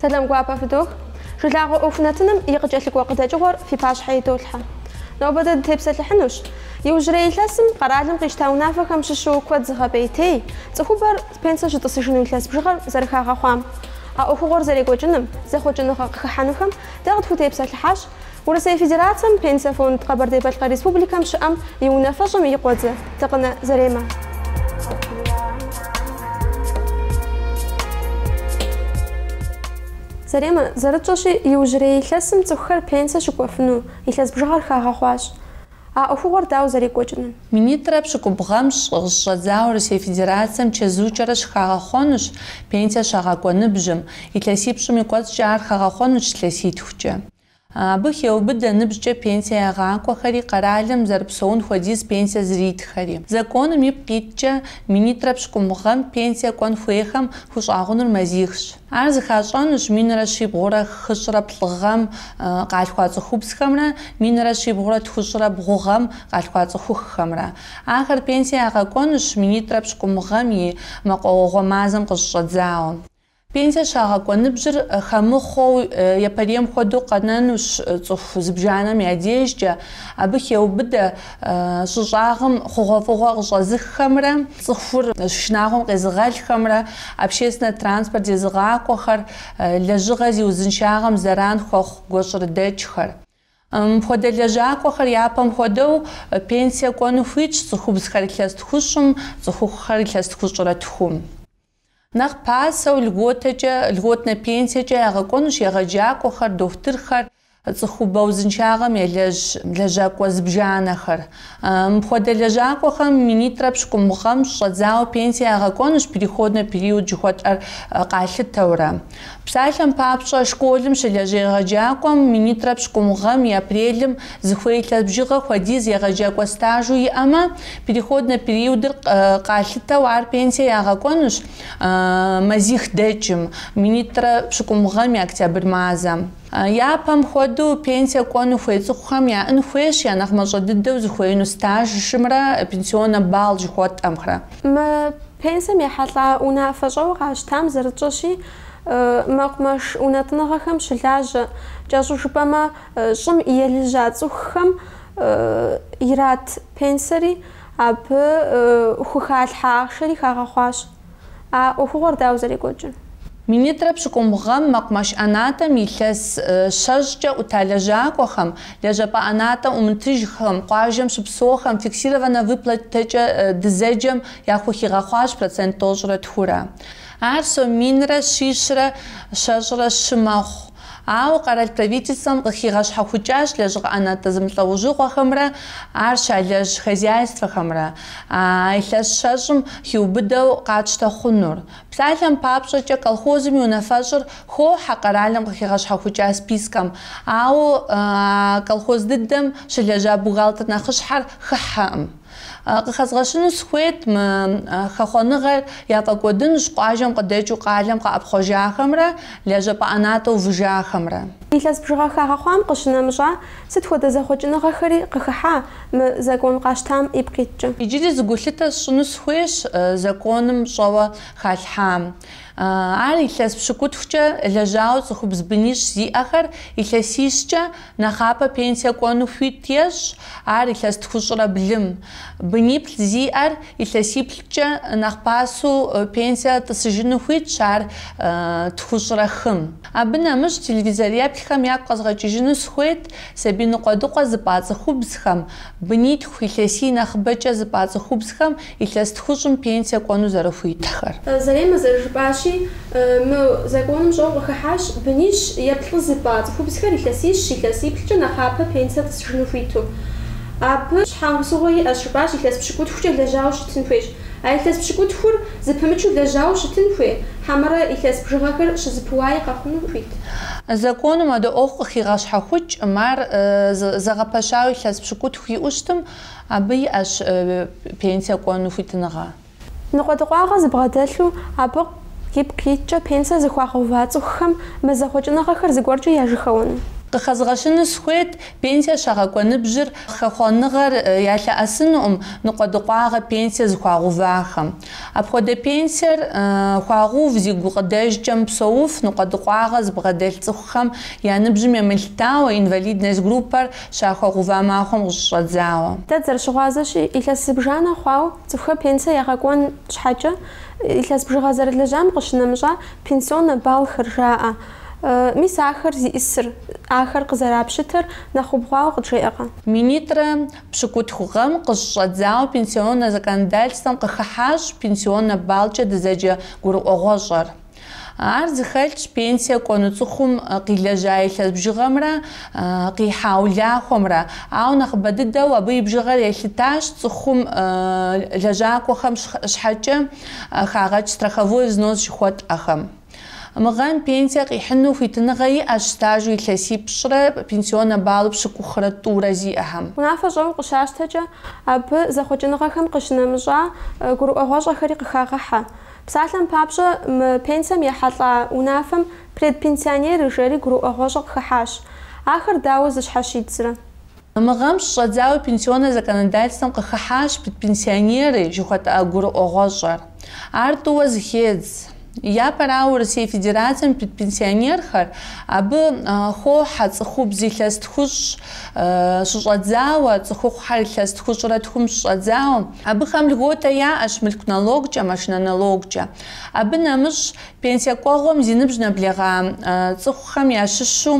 Сэлам гуапэ фыдох. Жылагъуэ ӏуэху нэтыным и къыкӏэлъыкӏуэ къыдэкӏыгъуэр фи пащхьэ идолъхьэ. Нобэ дэ дытепсэлъыхьынущ иужьрей илъэсым къэралым къищта унафэхэм щыщу куэд зыгъэпӏейтей, цӏыхубэр пенсэ щытӏысыжыну илъэс бжыгъэр зэрыхагъэхъуам, а ӏуэхугъуэр зэрекӏуэкӏыным, зэхъуэкӏыныгъэ къыхыхьэнухэм дэ къытхутепсэлъыхьащ Урысей Федерацэм Пенсэ фонд Къэбэрдей-Балъкъэр Республикэм щыӏэм и унафэщӏым и къуэдзэ Дыкъынэ Заремэ. Заремэ зэрытщӏэщи, иужьрей илъэсым цӏыхухэр пенсэ щыкӏуэфыну илъэс бжыгъэр хагъэхъуащ. А ӏуэхугъуэр дауэ зэрекӏуэкӏынум? Минитӏрэ пщыкӏубгъу гъэм щыщӏэдзауэ Урысей Федерацием чэзуукӏэрэ щыхагъэхъуэнущ пенсие щагъэкӏуэ ныбжьым, илъэсипщӏым и кӏуэцӏкӏэ ар хагъэхъуэнущ илъэситхукӏэ. Абы хеубыдэ ныбжькӏэ пенсие ягъакӏуэхэри, къэралым зэрыпсэун хуэдиз пенсие зритхэри. Законым ипкъ иткӏэ, минитӏрэ пщыкӏубгъу гъэм пенсие кӏуэн хуейхэм хущӏагъунур мазихщ. Ар зыхащӏэнущ минрэ щибгъурэ хыщӏрэ плӏы гъэм къалъхуа цӏыхубзхэмрэ минрэ щибгъурэ тхущӏрэ бгъу гъэм къалъхуа цӏыхухъухэмрэ. Ахэр пенсие ягъэкӏуэнущ минитӏрэ пщыкӏубгъу гъэм и мэкъуауэгъуэ мазэм къыщыщӏэдзауэ. Пенсие щагъэкӏуэ ныбжьыр хэмыхъуэу япэрейм хуэдэу къэнэнущ цӏыху зыбжанэм я дежкӏэ, абы хеубыдэ щӏы щӏагъым хъугъуэфӏыгъуэ къыщӏэзыххэмрэ цӏыхур шынагъуэм къезыгъэлхэмрэ, общественнэ транспорт зезыгъакӏуэхэр, лэжьыгъэ зи узыншагъэм зэран хуэхъу гуащӏэрыдэкӏхэр. Мыпхуэдэ лэжьакӏуэхэр япэм хуэдэу пенсие кӏуэну хуитщ цӏыхубзхэр илъэс тхущӏым, цӏыхухъухэр илъэс тхущӏрэ тхум. Нэхъ пасэу льготэкӏэ, льготнэ пенсиекӏэ ягъэкӏуэнущ егъэджакӏуэхэр, дохутырхэр, цӏыхубэ узыншагъэм елэжь лэжьакӏуэ зыбжанэхэр. Мыпхуэдэ лэжьакӏуэхэм минитӏрэ пщыкӏубгъу гъэм щыщӏэдзауэ пенсие ягъэкӏуэнущ переходнэ период жыхуэтӏэр къалъытэурэ. Псалъэм папщӏэ, школым щылэжь егъэджакӏуэм минитӏрэ пщыкӏубгъу гъэм и апрелым зыхуей илъэс бжыгъэ хуэдиз егъэджакӏуэ стажу иӏэмэ, переходнэ периодыр къалъытэу ар пенсие ягъэкӏуэнущ мазих дэкӏым, минитӏрэ пщыкӏубгъу гъэм и октябрь мазэм. Япэм хуэдэу, пенсие кӏуэну хуей цӏыхухэм яӏэн хуейщ я нэхъ мащӏэ дыдэу зыхуеину стажымрэ пенсионнэ балл жыхуэтӏэмрэ. Мы пенсием ехьэлӏа унафэщӏэуэ къащтам зэрытщӏэщи, мэкъумэш унэтӏыныгъэхэм щылажьэ, кӏэщӏу жыпӏэмэ, щӏым елыжьа цӏыхухэм ират пенсиери абы хухалъхьэ ахъшэри хагъэхъуащ. А ӏуэхугъуэр дауэ зэрекӏуэкӏыр? Минитӏрэ пщыкӏубгъу гъэм мэкъумэш ӏэнатӏэм илъэс щэщӏкӏэ ӏута лэжьакӏуэхэм, лэжьапӏэ ӏэнатӏэм ӏумытыжхэм, къуажэм щыпсэухэм фиксированнэ выплатэкӏэ дызэджэм яхухигъэхъуащ процент тӏощӏрэ тхурэ. Ар сом минрэ щищрэ щэщӏрэ щы мэхъу. Ауэ къэрал правительствэм къыхигъэщхьэхукӏащ лэжьыгъэ ӏэнатӏэ зэмылӏэужьыгъуэхэмрэ ар щалэжь хозяйствэхэмрэ а илъэс щэщӏым хиубыдэу къатщтэ хъунур. Псалъэм папщӏэкӏэ, колхозым и унафэщӏыр хохьэ къэралым къыхигъэщхьэхукӏа спискэм, ауэ а колхоз дыдэм щылэжьа бухгалтер нэхъыщхьэр хыхьэкъым. Къыхэзгъэщыну сыхуейт мы хэхъуэныгъэр яфӏэкӏуэдынущ къуажэм къыдэкӏыу къалэм къэӏэпхъуэжахэмрэ лэжьапӏэ ӏэнатӏэ увыжахэмрэ. Илъэс бжыгъэ хагъэхъуам къыщынэмыщӏа, сыт хуэдэ зэхъуэкӏыныгъэхэри къыхыхьа мы закон къащтам ипкъ иткӏэ? Иджыри зы гулъытэ сщӏыну сыхуейщ законым щӏэуэ халъхьам. Ар илъэс пщыкӏутхукӏэ лэжьауэ цӏыхубз бынищ зиӏэхэр илъэсищкӏэ Нэхъапэ пенсие кӏуэну хуит ещӏ ар илъэс тхущӏрэ блым. Быниплӏ зиӏэр илъэсиплӏкӏэ нэхъ пасэу пенсие тӏысыжыну хуитщ ар тхущӏрэ хым. Абы нэмыщӏ телевизореплъхэм ягу къэзгъэкӏыжыну сыхуейт сабий ныкъуэдыкъуэ зыпӏа цӏыхубзхэм, бынитху илъэсий нэхъыбэкӏэ зыпӏа цӏыхубзхэм Илъэс тхущӏым пенсие кӏуэну зэрыхуитхэр. Заремэ зэрыжыпӏащи, мы законым щӏэу къыхыхьащ бынищ е плӏы зыпӏа цӏыхубзхэр илъэсищ, илъэсиплӏкӏэ нэхъапэ пенсие тӏысыжыну хуиту. Абы щхьэусыгъуэ иӏэщ, жыпӏащ, илъэс пщыкӏутхукӏэ лэжьауэ щытын хуейщ. А илъэс пщыкӏутхур зэпымычу лэжьауэ щытын хуей, хьэмэрэ илъэс бжыгъэхэр щызэпыуаи къэхъуну хуит? Законым адэ ӏуэху къыхигъэщхьэхукӏкъым, ар зэгъэпэщауэ илъэс пщыкӏутху иӏэу щытым, Абы иӏэщ пенсие кӏуэну хуитыныгъэ. Ныкъуэдыкъуагъэ зыбгъэдэлъу абы ипкъ иткӏэ пенсие зыхуагъэува цӏыхухэм мы зэхъуэкӏыныгъэхэр зыгуэркӏэ яжьэхэуэну? Къыхэзгъэщыну схуейт, пенсие щагъэкӏуэ ныбжьыр хэхъуэныгъэр ялъэӏэсынукъым ныкъуэдыкъуагъэ пенсие зыхуагъэувахэм. Апхуэдэ пенсиер хуагъэув зи гукъыдэжкӏэ мыпсэуф ныкъуэдыкъуагъэ зыбгъэдэлъ цӏыхухэм я ныбжьым емылъытауэ инвалидность группэр Щахуагъэува махуэм къыщыщӏэдзауэ. Дэ дызэрыщыгъуазэщи, илъэс зыбжанэ хъуауэ цӏыхухэр пенсие ягъэкӏуэн щхьэкӏэ, илъэс бжыгъэ зэрылэжьам къыщынэмыщӏа пенсионнэ баллхэр жаӏэ. Мис ахэр зиӏысыр, ахэр къызэрапщытэр нэхъ убгъуауэ къыджеӏэкъэ? Минитӏрэ пщыкӏутху гъэм къыщыщӏэдзауэ пенсионнэ законодательствэм къыхыхьащ пенсионнэ баллкӏэ дызэджэ гурыӏуэгъуэщӏэр. Ар зыхэлъщ пенсие кӏуэну цӏыхум къилэжьа илъэс бжыгъэмрэ къихьа улахуэмрэ, ауэ нэхъыбэ дыдэу абы и бжыгъэр елъытащ цӏыхум лэжьакӏуэхэм щхьэкӏэ хагъэкӏ страховой взнос жыхуэтӏэхэм. Мы гъэм пенсие къихьыну хуитыныгъэ иӏэщ стажу илъэсипщӏрэ пенсионнэ баллу пщыкӏухрэ тӏурэ зиӏэхэм. Унафэщӏэу къыщащтэкӏэ, абы зэхъуэкӏыныгъэхэм къыщынэмыщӏа гурыӏуэгъуэщӏэхэри къыхагъэхьэ. Псалъэм папщӏэ, мы пенсием ехьэлӏа унафэм предпенсионеры жери гурыӏуэгъуэщӏэ къыхыхьащ. Ахэр дауэ зыщхьэщидзрэ? Мы гъэм щыщӏэдзауэ пенсионнэ законодательствэм къыхыхьащ предпенсионеры жыхуэтӏэ гурыӏуэгъуэщӏэр. Ар тӏууэ зыхедз. Япэрауэ, Урысей Федерацием и предпенсионерхэр абы хохьэ цӏыхубз илъэс тхущӏ щыщӏэдзауэ, цӏыхухъухэр илъэс тхущӏрэ тхум щыщӏэдзауэ, Абыхэм льготэ яӏэщ мылъку налогкӏэ, машинэ налогкӏэ. Абы нэмыщӏ, пенсие кӏуэгъуэм зи ныбжь нэблэгъа цӏыхухэм ящыщу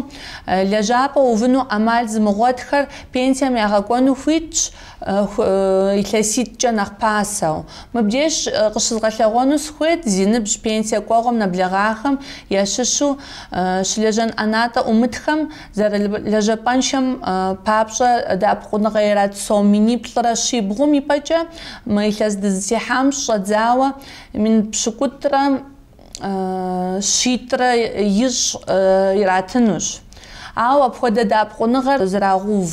лэжьапӏэ увыну ӏэмал зымыгъуэтхэр пенсием ягъэкӏуэну хуитщ илъэситӏкӏэ нэхъ пасэу. Мыбдеж къыщызгъэлъэгъуэну сыхуейт зи ныбжь пенсие кӏуэгъуэм нэблэгъахэм ящыщу щылэжьэн ӏэнатӏэ ӏумытхэм Зэрылэжьапӏэншэм папщӏэ, дэӏэпыкъуныгъэ ират сом миниплӏрэ щибгъум и пӏэкӏэ мы илъэс дызытехьам щыщӏэдзауэ мин пщыкӏутӏрэ щитӏрэ ищӏ иратынущ. Ауэ апхуэдэ дэӏэпыкъуныгъэр зэрагъэув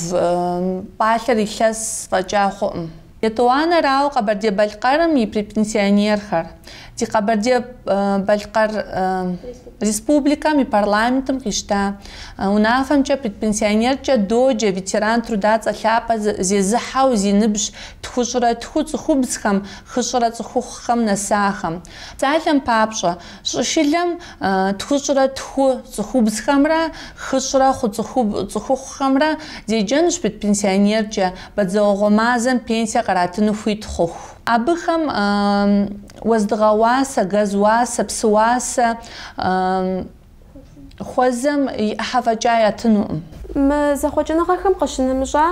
пӏалъэр илъэс фӏэкӏа хъуӏым. Етӏуанэрауэ Къэбэрдей-Балъкъэрым и предпенсионерхэр ди Къэбэрдей-Балъкъэр Республикэм и парламентым къищта унафэмкӏэ предпенсионеркӏэ доджэ, ветеран труда цӏэ лъапӏэ зезыхьэу зи ныбжь тхущӏрэ тху цӏыхубзхэм, хыщӏрэ цӏыхухъухэм нэсахэм. Псалъэм папщӏэ, Щӏышылэм тхущӏрэ тху цӏыхубзхэмрэ хыщӏрэ хъу цӏыхухъухэмрэ зеджэнущ предпенсионеркӏэ, бадзэуэгъуэ мазэм пенсие къратыну хуит хъуху. Абыхэм уэздыгъэ уасэ, газ уасэ, псы уасэ, Хуэзэм и ӏыхьэ фӏэкӏа ятынукъым. Мы зэхъуэкӏыныгъэхэм къыщынэмыщӏа,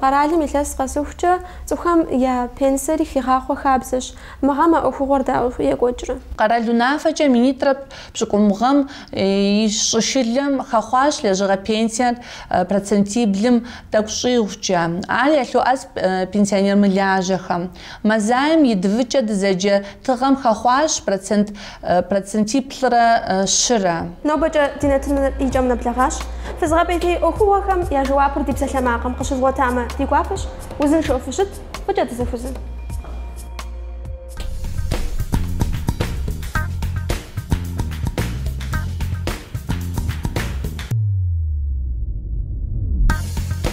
къэралым илъэс къэсыхукӏэ, цӏыхухэм я пенсиери хигъахъуэ хабзэщ. Мы гъэм а ӏуэхугъуэр дауэ екӏуэкӏрэ? Къэрал унафэкӏэ минитӏрэ пщыкӏубгъу гъэм и щӏышылэм хэхъуащ лэжьыгъэ пенсиер процентиблым тӏэкӏу щӏигъукӏэ. Ар ялъоӏэс пенсионер мылажьэхэм. Мазаем ЕДВ-кӏэ дызэджэ тыгъэм хэхъуащ процент процентиплӏрэ щырэ. Нобэкӏэ ди нэтыныр и кӏэм нэблэгъащ. Фызыгъэпӏейтей ӏуэхугъуэхэм я жэуапыр ди псалъэмакъым къыщывгъуэтамэ, ди гуапэщ, узыншэу фыщыт, фӏыкӏэ дызэхузын.